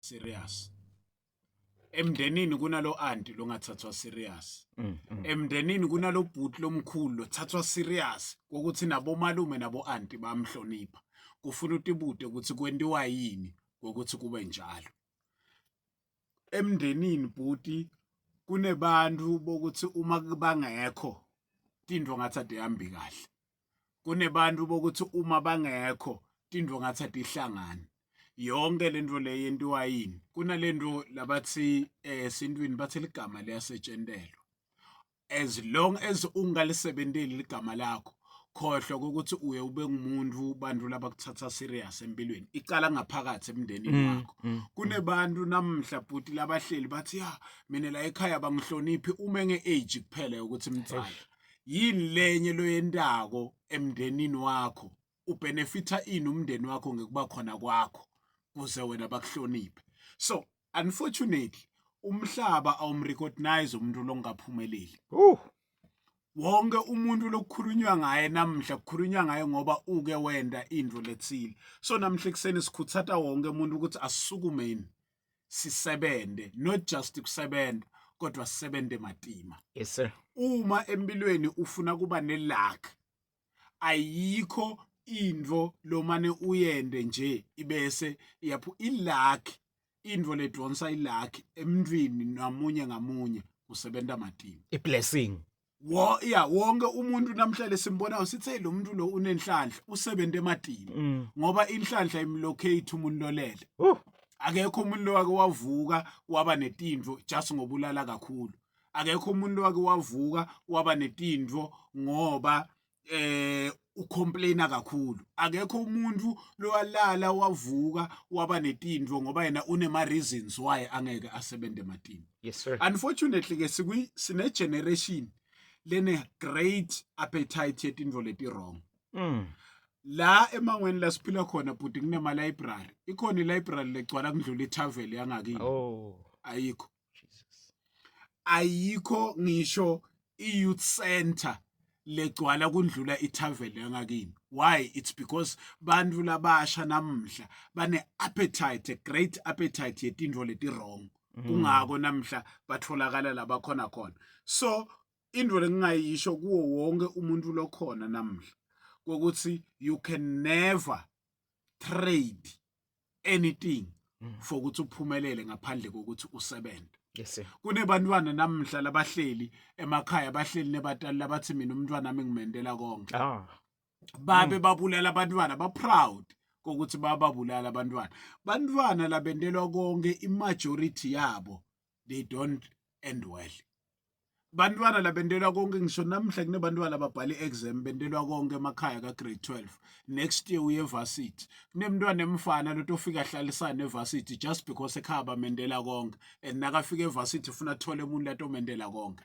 serious emndenini kunalo anti longathathwa serious mm, mm. emndenini kunalo bhuti lomkhulu lothathwa serious ukuthi nabomalume nabo anti bamhlonipha kufuna utibude ukuthi kwentiwa yini ukuthi kube njalo emndenini bhuti kunebantu bokuthi uma bangekho tinto ngathi adehambi kahle kunebantu bokuthi uma bangekho tindvo ngathi atihlangani yonke lento le yentiwa yini kunalento labathi eh, esintwini bathi ligama liyasetshentelwa as long as ungalisebenteli ligama lakho khohlwa ukuthi uye ube ngumuntu bantu labakuthatha serious empilweni icala ngaphakathi emndenini mm, wakho mm, mm. kunebantu namhla bhuti labahleli bathi ya mina la ekhaya bangihloniphi uma nge-age kuphela ukuthi mtsala yini lenye loyentako emndenini wakho ubenefitha ini umndeni wakho ngekuba khona kwakho kuze wena bakuhloniphe so unfortunately umhlaba awumrecognize umuntu longaphumeleli uh wonke umuntu lokukhulunywa ngaye namhla kukhulunywa ngaye ngoba uke wenda into lethile so namhla ekuseni sikhuthata wonke umuntu ukuthi asisukumeni sisebenze not just kusebenza kodwa sisebenze matima yes sir uma empilweni ufuna kuba neluck ayikho into lomane uyende nje ibese yaphu iluck into ledonsa iluck emntwini namunye ngamunye usebenza matima iblessing wo ya wonke umuntu namhlanje simbonayo sithe lo muntu lo unenhlanhla usebenza ematini mm. ngoba inhlanhla imlocate umuntu lolele uh. akekho umuntu lowake wavuka waba netindvo just ngobulala kakhulu akekho umuntu lowake wavuka waba netindvo ngoba ucomplain-a kakhulu akekho umuntu lowalala wavuka waba netinto ngoba yena unema-reasons why angeke asebenze ematini yes, sir. unfortunately-ke sine-generation lene-great appetite yetinto leti-wrong mm. la emangweni la siphila khona bhuti kunema-library ikhona i-library legcwala kundlula i-tavel yangakini oh. ayikho Jesus ayikho ngisho i-youth center legcwala kundlula ithaveni yangakini why it's because bantu labasha namhla bane appetite a great appetite yetinto leti wrong mhm. kungako namhla batholakala labakhona khona so into lengingayisho kuwo wonke umuntu lokhona namhla kokuthi you can never trade anything mm. for ukuthi uphumelele ngaphandle kokuthi usebenze yes kunebantwana namhla labahleli emakhaya bahleli nebatali labathi mina umntwana nami ngimendela konke ah babe mm. babulala abantwana ba proud kokuthi bababulala abantwana bantwana labendelwa konke imajority yabo they don't end well bantwana labentelwa konke ngisho namhla kunebantwana ababhala i-exam bentelwa konke emakhaya ka-grade 12 next year uye evarsity kunemntwana emfana loto ofika ahlalisane evarsity just because ekhaya bamendela konke and nakafika evarsity funa athole umuntu latomendela konke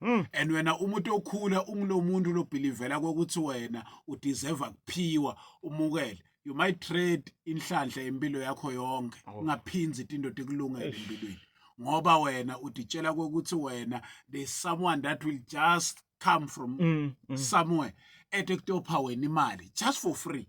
Mm. and wena umuntu okhula ungulomuntu lobhilivela kokuthi wena udeserve kuphiwa umukele you might trade inhlanhla impilo yakho yonke oh. ungaphinzi oh. indoda ekulungele empilweni ngoba wena uditshela kokuthi wena there's someone that will just come from mm, mm. somewhere ete kutopha wena imali just for free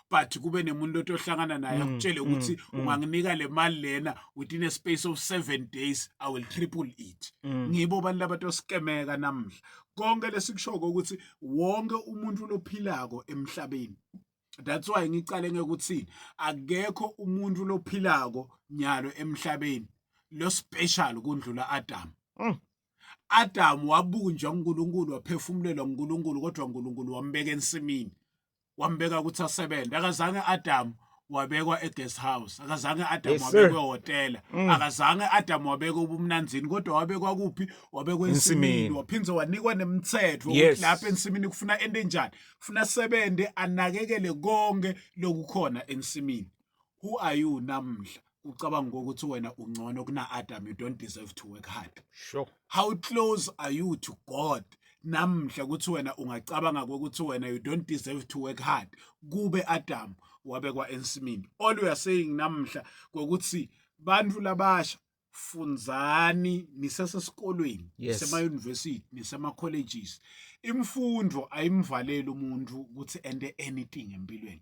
but kube nemuntu otohlangana naye mm, akutshele mm, ukuthi mm, unganginika le mali lena within a space of 7 days i will triple it mm. ngibo abantu labatoskemeka namhla konke lesikushoko ukuthi wonke umuntu lophilako emhlabeni that's why ngicale ngekuthini akekho umuntu lophilako nyalo emhlabeni lo special kundlula Adam mm. Adam wabunjwa uNkulunkulu waphefumulelwa uNkulunkulu kodwa uNkulunkulu wambeka ensimini wambeka ukuthi asebenze akazange Adam wabekwa eguest house akazange Adam yes, wabekwe hotela mm. akazange Adam wabekwe ubumnanzini kodwa wabekwa kuphi wabekwe ensimini waphindze wanikwa nemthetho yes. ukuthi lapha ensimini kufuna ende enjani kufuna sebende anakekele konke lokukhona ensimini who are you namhla ucabanga ukuthi wena ungcono kuna Adam you don't deserve to work hard sure how close are you to God namhla ukuthi wena ungacabanga ukuthi wena you don't deserve to work hard kube Adam wabekwa ensimini all we are saying namhla ukuthi bantu labasha funzani nisesesikolweni yes. nisema university nisema colleges imfundo ayimvaleli umuntu ukuthi ende anything empilweni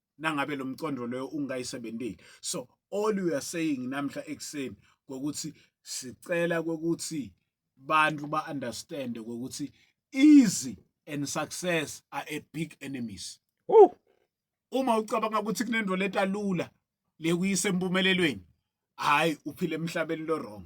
nangabe lo mcondo loyo ungayisebenzeli so all you are saying namhla ekuseni ngokuthi sicela kokuthi bantu ba understand ukuthi easy and success are a big enemies Woo! uma ucabanga ukuthi kunento leta lula le kuyise empumelelweni hayi uphile emhlabeni lo wrong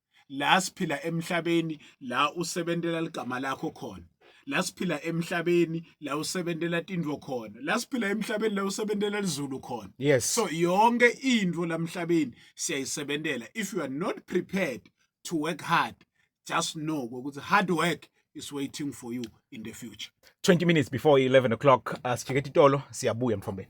la siphila emhlabeni la usebentela ligama lakho khona la siphila emhlabeni la usebentela tindvo khona la siphila emhlabeni la usebentela lizulu khona yes so yonke into lamhlabeni siyayisebentela if you are not prepared to work hard just know ukuthi hard work is waiting for you in the future 20 minutes before 11 o'clock uh, sijike titolo siyabuya mfombeni